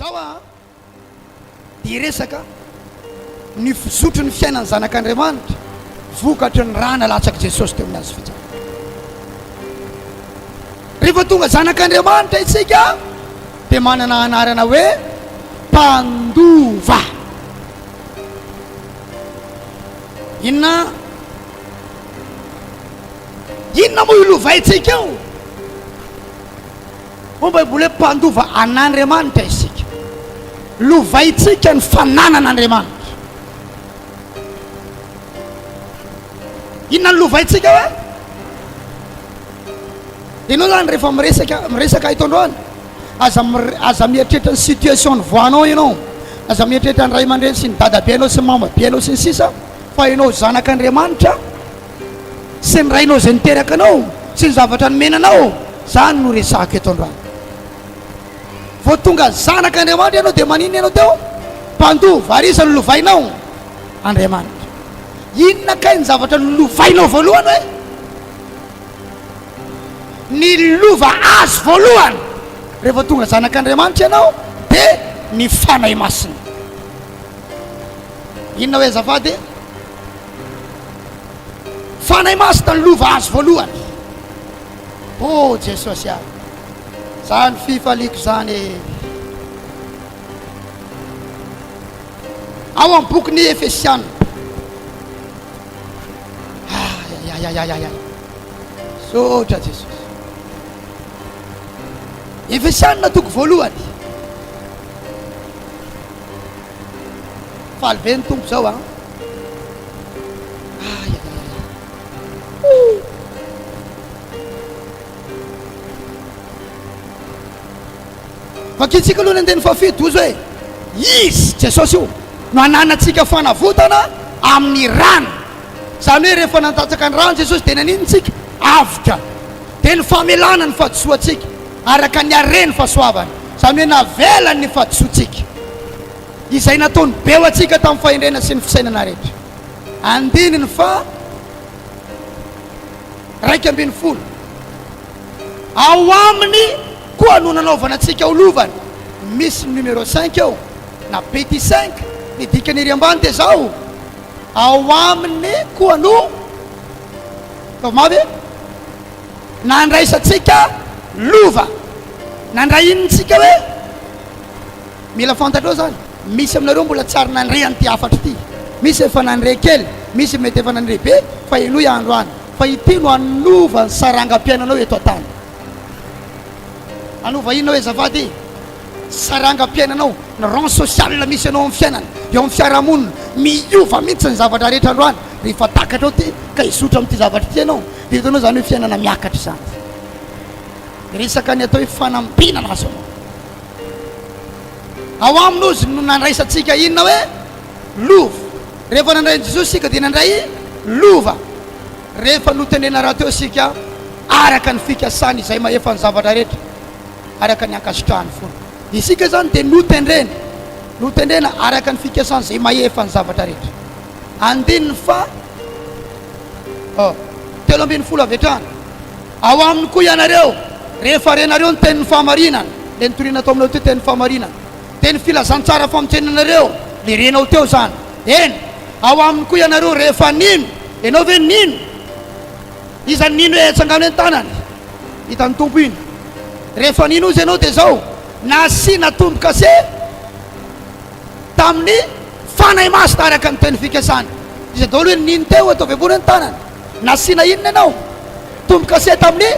Zao an dia resaka ny fizotry ny fiainan'ny zanak'Andriamanitra vokatry ny ra nalatsak'i Jesosy teo amin'ny hazo fijaliana. Rehefa tonga zanak'Andriamanitra isika dia manana anarana hoe mpandova. Inona inona moa io lovaintsika io? Hoy ny Baiboly hoe mpandova an'Andriamanitra isika. Lovaintsika ny fananan'Andriamanitra. Inona no lovaintsika hoe? Ianao izany rehefa miresaka miresaka eto androany, aza aza mieritreritra ny situation nivoahanao ianao, aza mieritreritra ny ray aman-dreny sy ny dadabe anao sy ny mamabe anao sy ny sisa fa ianao zanak'Andriamanitra. Sy ny rainao izay niteraka anao sy ny zavatra nomena anao, izany no resahako eto androany. Vao tonga zanak' Andriamanitra ianao dia maninona ianao teo? Mpandoa varisa nolovainao Andriamanitra. Inona kay ny zavatra nolovainao voalohany hoe? Ny lova azo voalohany rehefa tonga zanak' Andriamanitra ianao dia ny Fanahy Masina. Inona hoe azafady? Fanahy Masina no lova azo voalohany. Oh Jesosy ah! Zany fifaliako zany e! Ao amin'ny bokin'i Efesiana. Ayayayayay. Zotra Jesosy. Efesiana toko voalohany. Faly be ny Tompo izao an! Ayayaya! Ouh! Vakintsika aloha ny andininy fahafito, hoy izy hoe, Izy, Jesosy io, no ananantsika fanavotana amin'ny rany. Izany hoe rehefa nandatsaka ny rany Jesosy dia naninona isika? Avoka. Dia ny famelana ny fahadisoantsika. Araka ny hareny fahasoavany, izany hoe navelany ny fahadisoantsika, izay nataony be ho antsika tamin'ny fahendrena sy ny fisainana rehetra. Andininy faha raika ambin'ny folo. Ao aminy koa no nanaovana antsika ho lovany. Misy ny numéro cinq eo, na petit cinq, ny dikany ery ambany dia izao, Ao aminy koa no, ataovy mafy e! Na andraisantsika lova na ndray inona tsika hoe mila fantatrao zany misy aminareo mbola tsy ary nandre an'ity hafatra ity misy efa nandre kely misy mety efa nandre be fa henoy andro any fa ity no hanova ny sarangam-piainanao eto an-tany hanova inona hoe zavady sarangam-piainanao ny rang social misy anao amin'ny fiainana eo amin'ny fiarahamonina miova mihitsy ny zavatra rehetra andro any rehefa takatrao ty ka hizotra amin'ity zavatra ity ianao Dia hitanao izany hoe fiainana miakatra izany fa resaka ny atao hoe fanambinana azo anao. Ao aminy ozy no nandraisantsika inona hoe lova. Rehefa nandray an'i Jesosy isika dia nandray lova. Rehefa notendrena rahateo isika araka ny fikasany izay mahefa ny zavatra rehetra, araka ny ankasitrahany foana. Isika izany dia notendrena, notendrena araka ny fikasany izay mahefa ny zavatra rehetra. Andininy faha oh, telo ambin'ny folo avy hatrany. Ao aminy koa ianareo, rehefa renareo ny tenin'ny fahamarinana, ilay nitoriana tao aminao teo tenin'ny fahamarinana, dia ny filazantsara famontsenanareo ilay renao teo izany. Eny, ao aminy koa ianareo rehefa nino. Ianao ve nino? Iza no nino hoe atsangano eny tanany? Hitan'ny Tompo iny. Rehefa nino Izy ianao dia izao, nasiana tombo-kase. Tamin'ny fanahy masina araka ny teny fikasany. Iza daholo iny nino teo ataovy ambony ny tanana. Nasiana inona ianao? Tombokase tamin'ny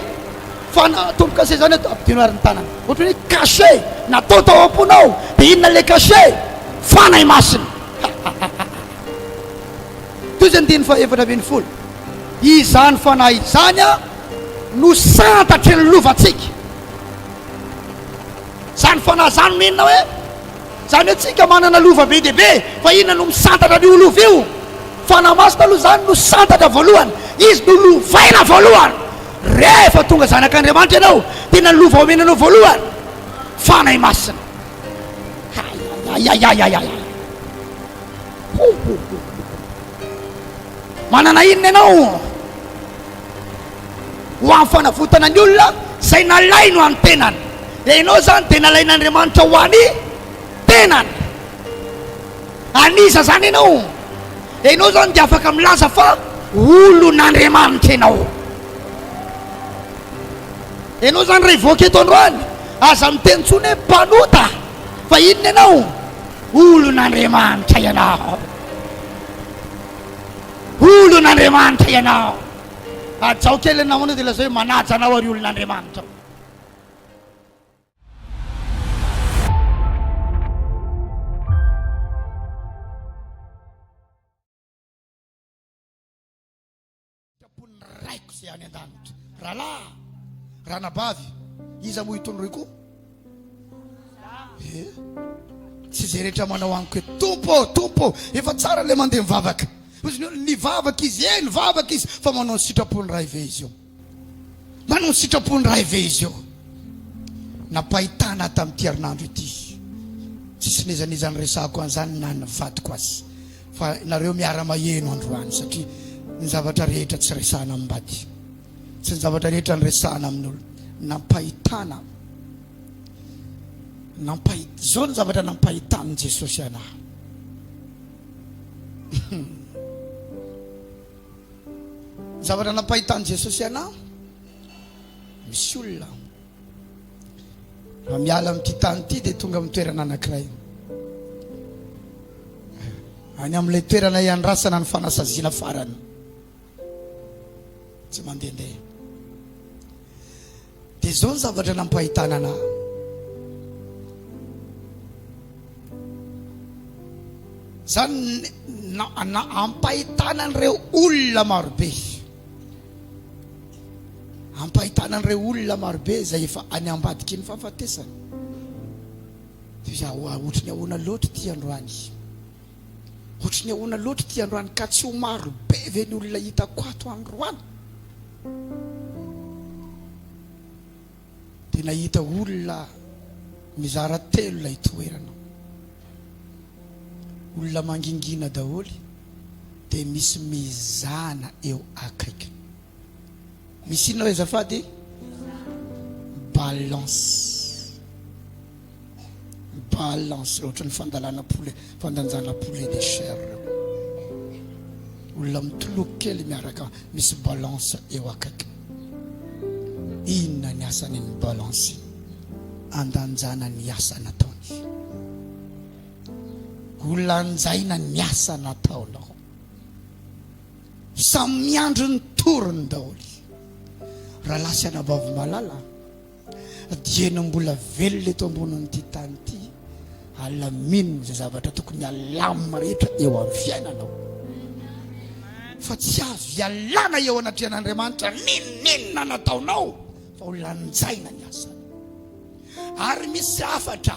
fanahy, tombokase izany atao ampidino ary ny tanana. Ohatran'ny hoe cachet natao tao am-ponao. Dia inona ilay cachet? Fanahy masina. Toy izany andininy fahaefatra ambin'ny folo. Izany fanahy izany no santatry ny lovantsika. Izany fanahy izany no inona hoe Zany hoe tsika manana lova be dia be fa inona no misantatra an'io lova io? Fanahy Masina aloha zany no santatra voalohany, Izy no lovaina voalohany. Rehefa tonga zanak'Andriamanitra ianao, tena lova omena anao voalohany, Fanahy Masina. Ayayayayayayay! Hohohohohoho! Manana inona ianao? Ho an'ny fanavotana ny olona izay nalainy ho an'ny tenany. Dia ianao izany dia nalain'Andriamanitra ho an'ny tenany. An'iza izany ianao? Dia ianao izany dia afaka milaza fa olon'Andriamanitra ianao. Ianao izany raha hivoaka eto androany, aza miteny intsony hoe mpanota fa inona ianao? Olon'Andriamanitra ianao. Olon'Andriamanitra ianao. Hajao kely ny namanao dia lazao hoe manaja anao ary olon'Andriamanitra. Raiko izay any an-danitra. Rahalahy, ranabavy, iza moa itony roy koa? Eh, tsy izay rehetra manao amiko hoe tompo ô, tompo ô, efa tsara ilay mandeha mivavaka. Hozy ny olona, nivavaka izy, eh, nivavaka izy, fa manao ny sitrapon'ny Ray ve izy eo? Manao ny sitrapon'ny Ray ve izy eo? Nampahitana tamin'ity herinandro ity. Tsisy nezaneza ny resahako an'izany na ny vadiko azy. Fa nareo miara-maheno androany satria ny zavatra rehetra tsy resahana amin'ny bady. Tsy ny zavatra rehetra niresahana amin'ny olona. Nampahitana. Nampahit... Izao ny zavatra nampahitan'i Jesosy anahy. zavatra nampahitan'i Jesosy anahy, misy olona. Raha miala amin'ity tany ity dia tonga amin'ny toerana anankiray. Any amin'ilay toerana iandrasana ny fanasaziana farany. Tsy mandehandeha. Dia izao ny zavatra nampahitana anà. Izany ampahitana an'ireo olona marobe. Ampahitana an'ireo olona marobe izay efa any ambadiky ny fahafatesana. Dia ohatry ny ahoana loatra ity androany. Ohatry ny ahoana loatra ity androany ka tsy ho maro be ve ny olona hitako ato androany? Dia nahita olona mizara telo ilay toerana. Olona mangingina daholo dia misy mizana eo akaiky. Misy inona re azafady? Balance. Balle en ce ohatran'ny fandalana poulet, fandanjana poulet de chair ireo. Olona mitoloko kely miaraka misy balance eo akaiky. Inona ny asany ny balance? Andanjana ny asa nataony. Holanjaina ny asa nataonao. Samy miandry ny torony daholo. Raha lasy anabavy malala. Dieny mbola velona eto ambonin'ity tany ity, alamino izay zavatra tokony alamina rehetra eo amin'ny fiainanao. Fa tsy azo ialana eo anatrehan'Andriamanitra n'inon'inona nataonao fa ho lanjaina ny asany. Ary misy hafatra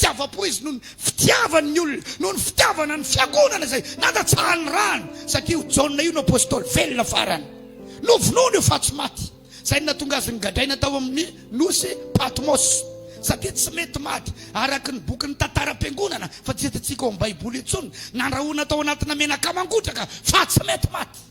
Tsy afa-po izy noho ny fitiavany ny olona, noho ny fitiavana ny fiangonana izay nandatsahany rano, satria io Jaona io no apostoly velona farany. Novonoiny io faha tsy maty, izay no nahatonga azy nigadraina tao amin'ny nosy Patmos, satria tsy mety maty araka ny bokin'ny tantaram-piangonana, fa tsy hitantsika ao amin'ny Baiboly intsony, nandrahona tao anatina menaka mangotraka fa tsy mety maty.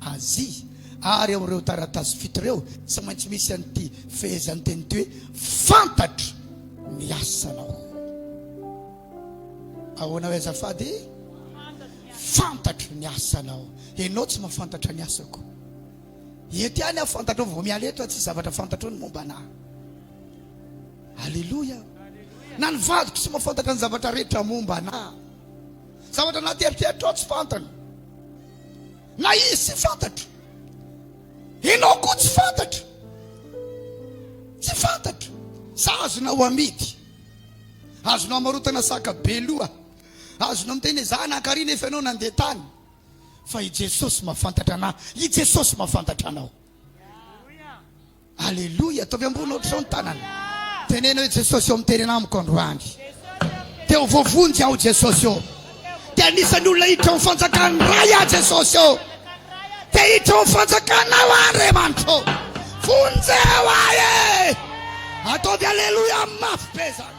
Azia, ary ao amin'ireo taratasy fito ireo tsy maintsy misy an'ity fehezanteny ity hoe, Fantatro ny asanao. Ahoana hoe azafady? Fantatro ny asanao. Ianao tsy mahafantatra ny asako. Eto ihany aho fantatro vao miala eto, tsy zavatra fantatro ny momba anà. Alléluia. Na ny vadiko tsy mahafantatra ny zavatra rehetra momba anà. Zavatra anaty eritreritrao tsy fantany. Na izy tsy fantatro. Enao koa tsy fantatro. Tsy fantatro. Sa azonao amidy. Azonao amarotana saka be loha. Azonao miteny hoe za nankarỳ nefa ianao nandeha tany. Fa i Jesosy mahafantatra anà. I Jesosy mahafantatra anao. Aleloia, ataovy ambony ohatr'izao ny tanana. Teneno hoe Jesosy ô miterena amiko androany. Dia ho voavonjy aho Jesosy ô. Dia anisan'ny olona hiditra ao fanjakan'ny Ray aho Jesosy ô. Dia hiditra ao fanjakanao aho Andriamanitra ô. Vonjeo ahy e. Ataovy aleloia mafy be zany.